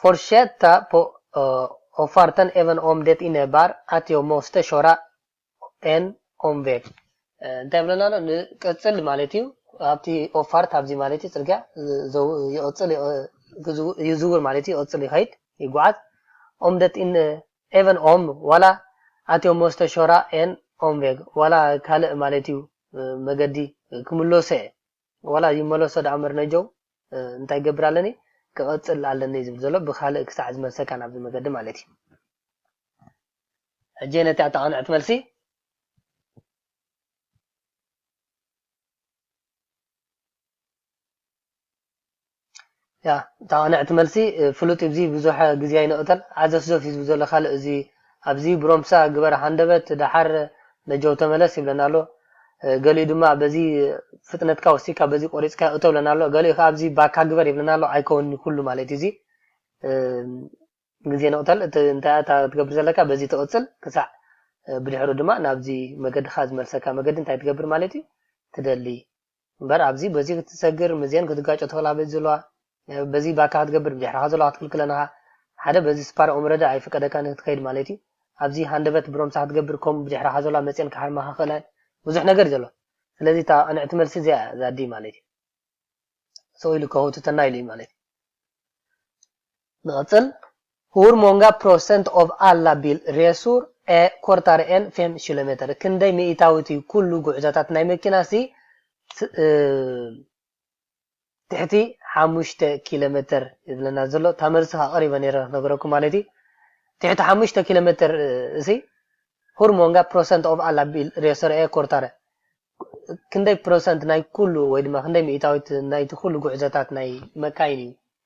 Fortsätta på avfarten även om det innebär att jag måste köra en omväg እንታይ ይብለና ኣሎ ን ቀጽል ማለት እዩ ኣብቲ ኦፋርት ኣብዚ ማለት እዩ ጽርግያ ይቕጽል ይዝውር ማለት እዩ ይቕጽል ይኸይድ ይጓዓዝ ኦም ደ ጢን ኤቨን ኦም ዋላ ኣትዮ ሞስተሾራ ኤን ኦምቬግ ዋላ ካልእ ማለት እዩ መገዲ ክምለሶ እየ ዋላ ይመለሶ ዳኣ እምበር ነጀው እንታይ ይገብር ኣለኒ ክቐጽል ኣለኒ ዝብል ዘሎ ብካልእ ክሳዕ ዝመልሰካ ናብዚ መገዲ ማለት እዩ ሕጂ ነቲ ኣተቓንዕት መልሲ ያ እታ ቅንዕ እቲ መልሲ ፍሉጥ ኢዩ እዚ ብዙሕ ግዜ ኣይንቅተል ዓዘፍዘፍ ኢዩ ዝብል ዘሎ ካልእ እዚ ኣብዚ ብሮምሳ ግበር ሃንደበት ደሓር ነጀው ተመለስ ይብለና ኣሎ ገሊኡ ድማ በዚ ፍጥነትካ ወሲካ በዚ ቆሪጽካዮ እቶ ይብለና ኣሎ ገሊኡ ከኣ ኣብዚ ባካ ግበር ይብለና ኣሎ ኣይከውን ኢዩ ኩሉ ማለት ኢዩ እዚ ግዜ ንቅተል እቲ እንታይ እታ ትገብር ዘለካ በዚ ትቅጽል ክሳዕ ብድሕሩ ድማ ናብዚ መገድካ ዝመልሰካ መገዲ እንታይ ትገብር ማለት ኢዩ ትደሊ እምበር ኣብዚ በዚ ክትሰግር ምዘን ክትጋጮ ትኽእላ በዚ ዘለዋ በዚ ባካ ክትገብር ብድሕርኻ ዘለዋ ክትክልክለን እኻ ሓደ በዚ ስፓር ኦምረደ ኣይፍቀደካን ንክትከይድ ማለት እዩ ኣብዚ ሃንደበት ብሮምሳ ክትገብር ኮሙ ብድሕራኻ ዘለዋ መጽየን ክሃርማኻ ክኽእላ እየን ብዙሕ ነገር እዩ ዘሎ ስለዚ እታ ቅንዕቲ መልሲ እዚኣ እያ ዛዲ ማለት እዩ ስቕ ኢሉ ከህውትተና ኢሉ እዩ ማለት እዩ። ንቕጽል፣ Hur många procent av alla bilresor är kortare än fem kilometer? ክንደይ ሚኢታዊ እቲ ኩሉ ጉዕዞታት ናይ መኪና ሲ ትሕቲ ሓሙሽተ ኪሎመተር እዩ ዝብለና ዘሎ እታ መልሲ ከኣ ቀሪበ ነይረ ክነግረኩም ማለት እዩ ትሕቲ ሓሙሽተ ኪሎመተር እሲ ሁር ሞንጋ ፕሮሰንት ኦፍ ኣላ ሬሶር ኤ ኮርታረ ክንደይ ፕሮሰንት ናይ ኩሉ ወይ ድማ ክንደይ ሚእታዊት ናይቲ ኩሉ ጉዕዞታት ናይ መካይን እዩ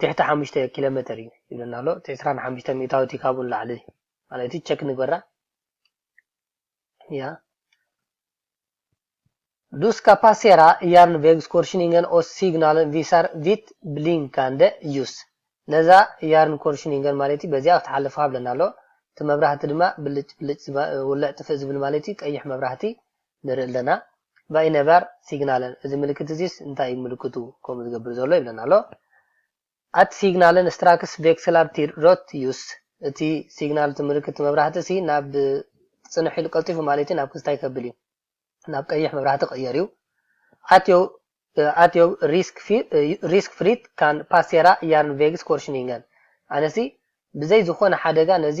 ትሕቲ ሓሙሽተ ኪሎ መተር እዩ ይብለና ኣሎ እቲ ዕስራን ሓሙሽተን ሚእታዊ እቲ ካብኡ ንላዕሊ ማለት እዩ ቸክ ንግበራ ያ Du ska passera järnvägskorsningen och signalen visar vitt blinkande ljus. ነዛ ያርንኮርሽኒንገን ማለት እዩ በዚኣ ክትሓልፍ ሃብለና ኣሎ እቲ መብራህቲ ድማ ብልጭ ብልጭ ውልዕ ጥፍእ ዝብል ማለት እዩ ቀይሕ መብራህቲ ንርኢ ኣለና ባይነባር ሲግናልን እዚ ምልክት እዚስ እንታይ እዩ ምልክቱ ከምኡ ዝገብር ዘሎ ይብለና ኣሎ ኣት ሲግናልን ስትራክስ ቬክስላር ቲር ሮት ዩስ እቲ ሲግናል እቲ ምልክት እቲ መብራህቲ ሲ ናብ ጽንሕ ኢሉ ቀልጢፉ ማለት እዩ ናብ ክስታይ ከብል እዩ ናብ ቀይሕ መብራህቲ ቀየር እዩ ኣትዮ at your risk, risk free can passera järnvägskorsningen ኣነሲ ብዘይ ዝኾነ ሓደጋ ነዚ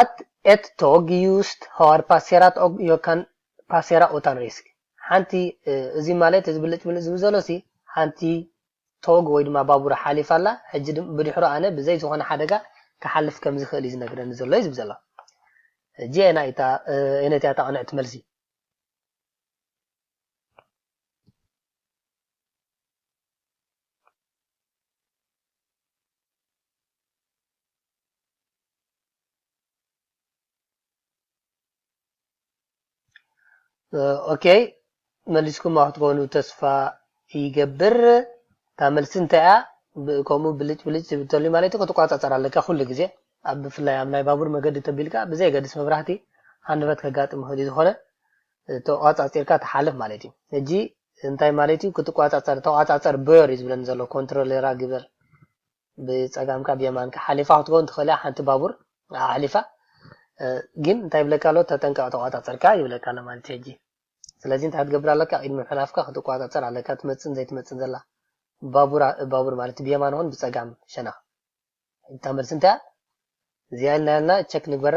Att ett tag ljust har passerat och jag kan passera utan risk ሓንቲ እዚ ማለት እዚ ብልጭ ብልጭ ዝብል ዘሎ ሲ ሓንቲ ቶግ ወይ ድማ ባቡር ሓሊፋ ኣላ ሕጂ ብድሕሩ ኣነ ብዘይ ዝኾነ ሓደጋ ክሓልፍ ከም ዝኽእል እዩ ዝነግረኒ ዘሎ እዩ ዝብል ዘሎ ሕጂ ኣየናይ እታ ኣየነይቲ እያ እታ ቅንዕቲ መልሲ ኦኬይ መሊስኩማ ክትኮኑ ተስፋ ይገብር እታ መልሲ እንታይ እያ ከምኡ ብልጭ ብልጭ ዝብል ተሎ ማለት እዩ ክትቆፃፀር ኣለካ ኩሉ ግዜ ኣብ ብፍላይ ኣብ ናይ ባቡር መገዲ ተቢልካ ብዘይገድስ መብራህቲ ሃንደበት ከጋጥም ይኽእል እዩ ዝኾነ ተቋፃፂርካ ትሓልፍ ማለት እዩ ሕጂ እንታይ ማለት እዩ ክትቋፃፀር ተቋፃፀር በዮር እዩ ዝብለኒ ዘሎ ኮንትሮሌራ ግበር ብጸጋምካ ብየማንካ ሓሊፋ ክትከውን ትኽእል እያ ሓንቲ ባቡር ኣሕሊፋ ግን እንታይ ይብለካ ኣሎ ተጠንቀቕ ተቋጻጸርካ ይብለካ ኣሎ ማለት እዩ ሕጂ ስለዚ እንታይ ክትገብር ኣለካ ቅድሚ ምሕላፍካ ክትቋጻጸር ኣለካ ትመጽን ዘይትመጽን ዘላ ባቡር ባቡር ማለት ብየማን ሆን ብጸጋም ሸነኽ እታ መልሲ እንታይ እዚኣ ኢልና ኢልና ቸክ ንግበራ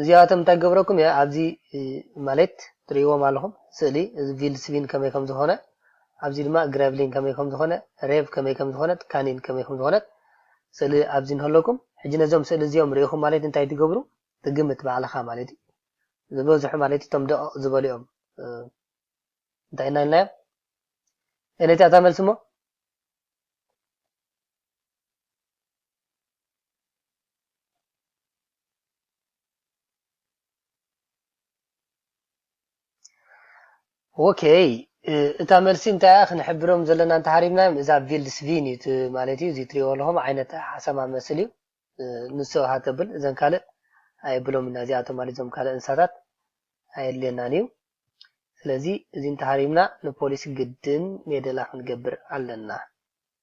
እዚኣቶም እንታይ ክገብረኩም እየ ኣብዚ ማለት ትርእይዎም ኣለኹም ስእሊ እዚ ቪልስቪን ከመይ ከም ዝኾነ ኣብዚ ድማ ግረቭሊን ከመይ ከም ዝኾነ ሬቭ ከመይ ከም ዝኾነት ካኒን ከመይ ከም ዝኾነት ስእሊ ኣብዚ እንህለኩም ሕጂ ነዞም ስእሊ እዚኦም ርኢኹም ማለት እንታይ ትገብሩ ትግምት ባዕልኻ ማለት እዩ ዝበዝሑ ማለት እቶም ደቐቕ ዝበሉ እዮም እንታይ እና ኢልናዮ ኤነቲ ኣታ መልሲ እሞ ኦኬይ እታ መልሲ እንታይ እያ ክንሕብሮም ዘለና እንተሃሪምናዮም እዛ ቪልድስቪን እዩ ማለት እዩ እዚ ትሪእዎ ኣለኹም ዓይነት ሓሰማ መስል እዩ ንሱ ሃተብል እዘን ካልእ ኣየብሎም እና እዚኣቶም ማለት እዞም ካልእ እንስሳታት ኣየድልየናን እዩ ስለዚ እዚ እንተሃሪምና ንፖሊስ ግድን ሜደላ ክንገብር ኣለና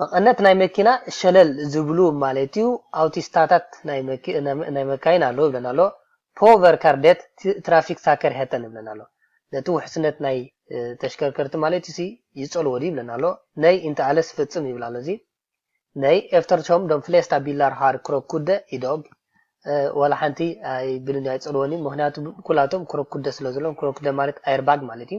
መቐነት ናይ መኪና ሸለል ዝብሉ ማለት'ዩ፣ ኣውቲስታታት ናይ መካይን ኣለዉ ይብለና ኣሎ፣ ፖ ቨርካር ዴት ትራፊክሳከርሄተን ይብለና ኣሎ፣ ነቲ ውሕስነት ናይ ተሽከርከርቲ ማለት'ዩሲ ይጸልዎ ድዩ ይብለና ኣሎ፣ ነይ ኢንተ ኣለስ ፍጽም ይብል ኣሎ እዚ ነይ ኤፍተርሾም ደም ፍሌስታ ቢላር ሃር ክሮኩደ ኢዶግ ዋላ ሓንቲ ኣይብልን እዩ ኣይጸልዎን እዩ፣ ምኽንያቱ ኩላቶም ክሮኩደ ስለዘለዎም፣ ክሮኩደ ማለት ኣየርባግ ማለት'ዩ።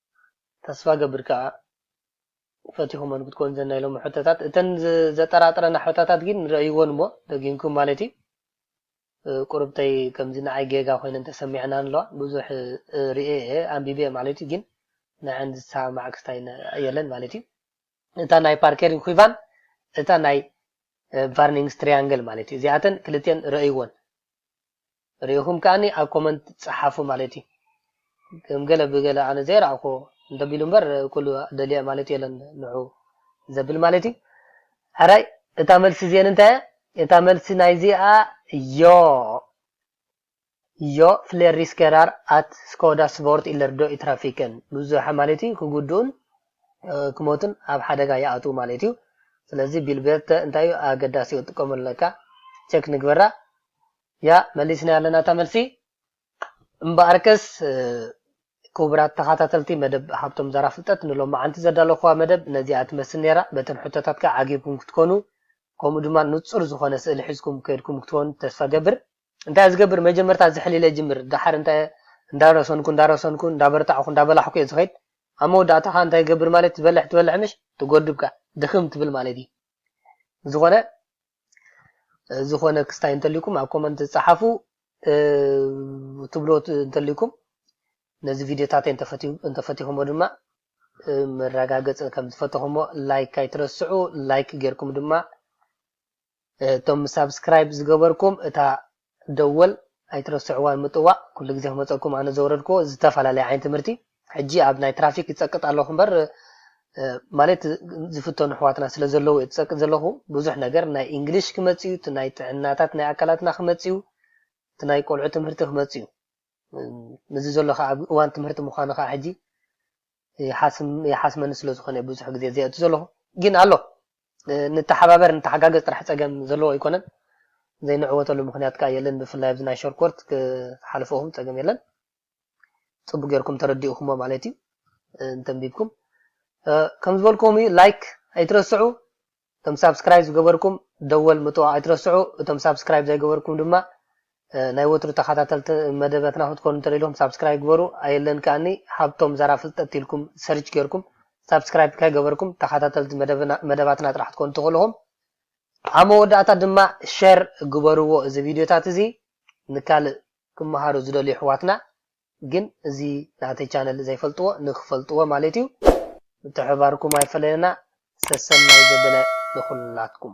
ተስፋገብር ከኣ ፈቲኹመን ክትኮኑ ዘን ናይ ሎሚ ሕቶታት እተን ዘጠራጥረና ሕቶታት ጊን ረእይወን እሞ ደጊምኩም ማለት እዩ ቁርብተይ ከምዚ ንዓይ ጌጋ ኮይነን ተሰሚዐናን ኣለዋ ብዙሕ ሪኤ እየ ኣንቢበ ማለት እዩ ጊን ንዐን ዝሰማማዕ ክስታይ የለን ማለት እዩ እታ ናይ ፓርከሪን ኺቫን እታ ናይ ቫርኒንግስ ትሪያንግል ማለት እዩ እዚኣተን ክልቲኤን ረእይወን ሪኢኹም ከኣኒ ኣብ ኮመንት ጸሓፉ ማለት እዩ ከም ገለ ብገለ ኣነ ዘይረኣኹዎ እንተቢሉ እምበር ኩሉ ደልየ ማለት የለን ንዑ ዘብል ማለት እዩ ሕራይ እታ መልሲ እዚኤን እንታይ እያ እታ መልሲ ናይዚኣ ዮ ዮ ፍሌር ሪስኬራር ኣት ስኮዳ ስቮርት ኢለር ዶ ኢትራፊክን ብዙሕ ማለት እዩ ክጉድኡን ክሞቱን ኣብ ሓደጋ ይኣትዉ ማለት እዩ ስለዚ ቢልቤርተ እንታይ እዩ ኣገዳሲ እዩ ጥቀመለካ ቸክ ንግበራ ያእ መሊስናያ ኣለና እታ መልሲ። እምበኣርከስ ክቡራት ተኻታተልቲ መደብ ሃብቶም ዛራ ፍልጠት ንሎምዓንቲ ዘዳለኹዋ መደብ ነዚኣ ትመስል ኔራ በተን ሕቶታት ከኣ ዓጊብኩም ክትኮኑ ከምኡ ድማ ንጹር ዝኾነ ስእሊ ሒዝኩም ከይድኩም ክትኮኑ ተስፋ እገብር። እንታየ ዝገብር መጀመርታ ዝሕል ኢለ ይጅምር ደሓር እንታየ እንዳረሰንኩ እንዳረሰንኩ እንዳበርታዕኹ እንዳበላሕኩ እየ ዝኸይድ ኣብ መወዳእታ ከኣ እንታይ ይገብር ማለትዩ ትበልሕ ትበልሕ ምሽ ትጎድብ ከኣ ድኽም ትብል ማለትዩ ብዝኾነ ዝኾነ ክስታይ እንተልኩም ኣብ ኮመንት ጸሓፉ ትብሎ እንተልኩም ነዚ ቪድዮታት እንተፈቲኹሞ ድማ መረጋገፂ ከም ዝፈተኹሞ ላይክ ኣይትረስዑ ላይክ ጌርኩም ድማ እቶም ሳብስክራይብ ዝገበርኩም እታ ደወል ኣይትረስዕዋን ምጥዋቅ ኩሉ ግዜ ክመጸኩም ኣነ ዘውረድክዎ ዝተፋላለየ ዓይነት ትምህርቲ ሕጂ ኣብ ናይ ትራፊክ ይጸቅጥ ኣለኩ እምበር ማለት ዝፍተኑ ኣሕዋትና ስለ ዘለዉ እየ ዝጸቅጥ ዘለኩ ብዙሕ ነገር ናይ እንግሊሽ ክመጽ እዩ እቲ ናይ ጥዕናታት ናይ ኣካላትና ክመጽ እዩ እቲ ናይ ቆልዑ ትምህርቲ ክመጽ እዩ እዚ ዘሎ ከኣ ኣብ እዋን ትምህርቲ ምኳኑ ከኣ ሕጂ ይሓስመኒ ስለ ዝኮነ እየ ብዙሕ ግዜ ዘየእቱ ዘለኩ ግን ኣሎ ንተሓባበር ንተሓጋገዝ ጥራሕ ጸገም ዘለዎ ኣይኮነን ዘይንዕወተሉ ምክንያት ከኣ የለን ብፍላይ ኣብዚ ናይ ሸርኮርት ክትሓልፍኦም ጸገም የለን ጽቡቅ ጌርኩም ተረዲእኩሞ ማለት እዩ እንተንቢብኩም ከም ዝበልኩም ላይክ ኣይትረስዑ እቶም ሳብስክራይብ ዝገበርኩም ደወል ምጥዋቅ ኣይትረስዑ እቶም ሳብስክራይብ ዘይገበርኩም ድማ ናይ ወትሩ ተካታተልቲ መደበትና ክትኮኑ እንተደሊኩም ሳብስክራይብ ግበሩ ኣየለን ከኣኒ ሃብቶም ዛራ ፍልጠት ኢልኩም ሰርች ገርኩም ሳብስክራይብ ከይገበርኩም ተካታተልቲ መደባትና ጥራሕ ክትኮኑ ትክእሉ ኢኩም ኣብ መወዳእታ ድማ ሸር ግበርዎ እዚ ቪድዮታት እዚ ንካልእ ክመሃሩ ዝደልዩ ኣሕዋትና ግን እዚ ናተይ ቻነል ዘይፈልጥዎ ንክፈልጥዎ ማለት እዩ ምትሕብባርኩም ኣይፈለየና ሰሰናይ ዘበለ ንኩላትኩም።